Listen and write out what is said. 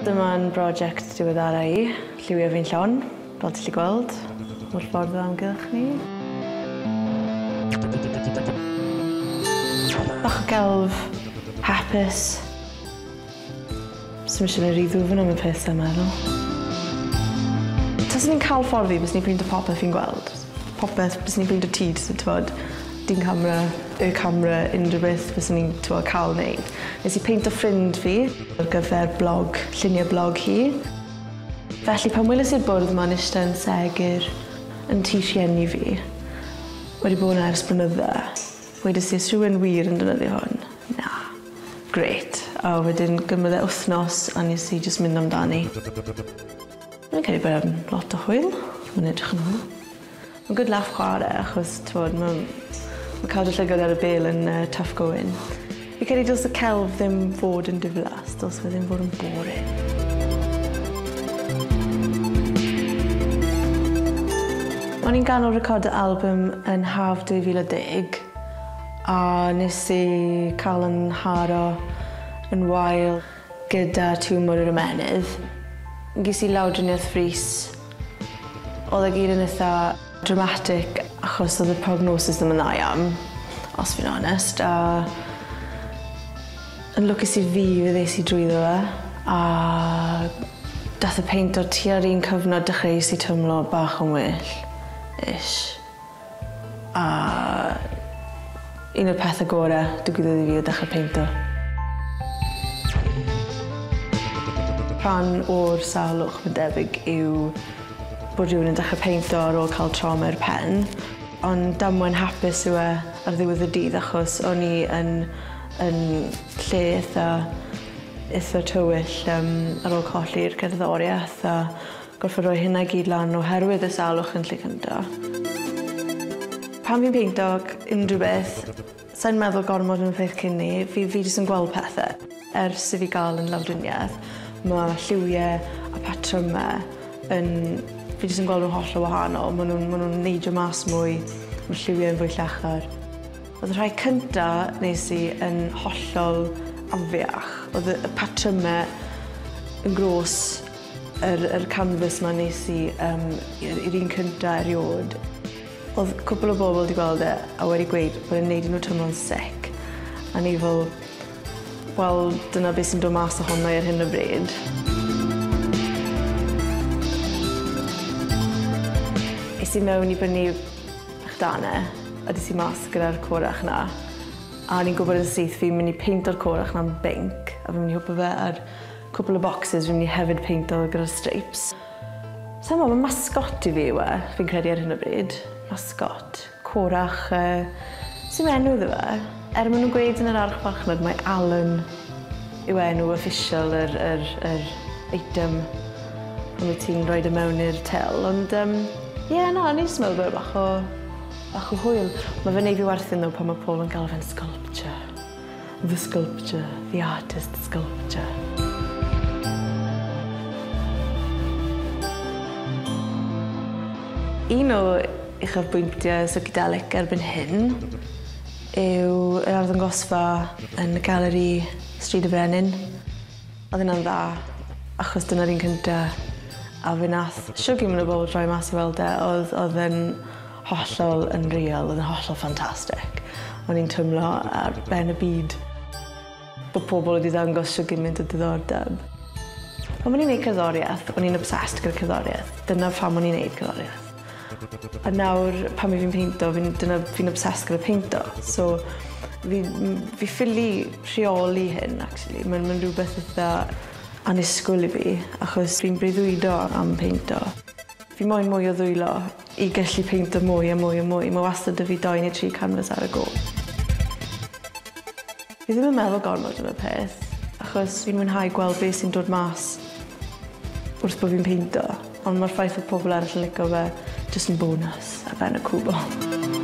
Dyma'n broject diweddara i. Lliwio fi'n llon, fel ti 'llu gweld, o'r ffordd o amgylch ni. Bach o gelf, hapus. Swn i eisiau gwneud rhy ddwfn am y peth sa'n meddwl. Taswn i'n cael ffordd fi byswn i'n printo popeth fi'n gweld. Popeth, byswn i'n printo ti jyst yn t'mod dyn camera, y camera, unrhyw beth fyswn i'n t'mod cael wneud. Nes i peinto ffrind fi ar gyfer blog, llunie blog hi. Felly pan weles i'r bwrdd 'ma'n ishte yn segur yn tŷ rhieni fi, wedi bod 'na ers blynydde, wedes i 'o's rhywun wir yn defnyddio hwn? Na. Grêt. A wedyn gymryd e wthnos a nes i jyst mynd amdani. Fi'n credu bod e'n lot o hwyl. Ma'n edrych yn hwyl. Ma'n good laff chware achos t'mod ma' ma' cadw llygad ar y bêl yn yy tough going. Fi credu dylse y celf ddim fod yn diflas dylse fe ddim fod yn boring. O'n i'n ganol recordo albym yn haf 2010. A nes i cael yn nharo yn wael gyda tiwmor yr ymennydd. Ges i lawdriniaeth frys. Oedd e gyd yn itha dramatic achos oedd y prognosis ddim yn dda iawn, os fi'n onest, a yn lwcus i fi fe ddes i drwyddo fe a dath y peint o'r tua'r un cyfnod dechreuais i teimlo bach yn well, ish. A un o'r pethe gore digwyddodd i fi oedd dechre peinto. Rhan o'r salwch mae'n debyg yw bod rhywun yn dechre peinto ar ôl cael trauma i'r pen, ond damwain hapus yw e ar ddiwedd y dydd achos o'n i yn yn lle itha itha tywyll yym ar ôl colli'r cerddorieth a Gorfod rhoi hynna i gyd lan oherwydd y salwch yn Llŷcynda. Pan fi'n peinto unrhyw beth, sai'n meddwl gormod am y peth cyn 'ny, fi fi jyst yn gweld pethe. Ers i fi ga'l yn lawdrinieth ma' lliwie a patryme yn... fi jyst yn gweld nhw'n hollol wahanol, ma' nhw'n ma' nhw'n neidio mas mwy, ma' lliwie'n fwy llachar. O'dd y rhai cynta nes i yn hollol afiach, o'dd y y patryme yn grôs. Yr yr canfas 'ma nes i yym i'r i'r un cynta eriôd odd cwpwl o bobol 'di gweld e a wedi gweud bod e'n neud i nw twmlo'n sic a o'n i fel wel dyna be' sy'n do' mas ohono i ar hyn o bryd. Es i mewn i brynu bach darne a des i mas gyda'r corach 'na a o'n i'n gwbod yn syth fi myn' i peinto'r corach 'na'n binc a fi myn' i hwpo fe ar Cwpl o bocsys fi'n mynd i hefyd peinto gyda'r streips. Sai'n gwbod, ma' mascot i fi yw e, fi'n credu ar hyn o bryd. Mascot. Corach yy sim enw iddo fe. Er ma' nw'n gweud yn yr arch farchnad mae Alan yw enw official yr yr yr eitem pan wyt ti'n rhoid e mewn i'r til ond yym ie na o'n i jyst yn meddwl bod e bach o bach o hwyl. Ma' fe'n neud fi werthin ddo pan ma' pobl yn galw fe'n sculpture. The sculpture, the artist sculpture. Un o uchafbwyntiau Psychedelic erbyn hyn yw yr arddangosfa yn y Galeri Stryd y Frenin. Oedd hynna'n dda, achos dyna'r un cynta a fe nath shwg i mwy o bobl droi mas a weld e, oedd oedd e'n Hollol unreal, oedd yn hollol ffantastig. O'n i'n twmlo ar ben y byd. Bo' pobl wedi ddangos shwd gymint o diddordeb. Pan o'n i'n neud cerddoriaeth, o'n i'n obsessed gyda cerddoriaeth. Dyna pham o'n i'n neud cerddoriaeth. A nawr pan fi fi'n peinto fi'n dyna fi'n obsessed gyda peinto. So fi m- fi ffili rheoli hyn actually. Ma'n ma'n rhywbeth itha annisgwyl i fi achos fi'n breuddwydo am peinto. Fi moyn mwy o ddwylo. I gallu peinto mwy a mwy a mwy, mae wastad 'da fi dou neu tri canfas ar y go. Fi ddim yn meddwl gormod am y peth, achos fi'n mwynhau gweld be sy'n dod mas wrth bo' fi'n peinto, ond ma'r ffaith fod pobl arall yn lico fe jyst yn bonws ar ben y cwbl.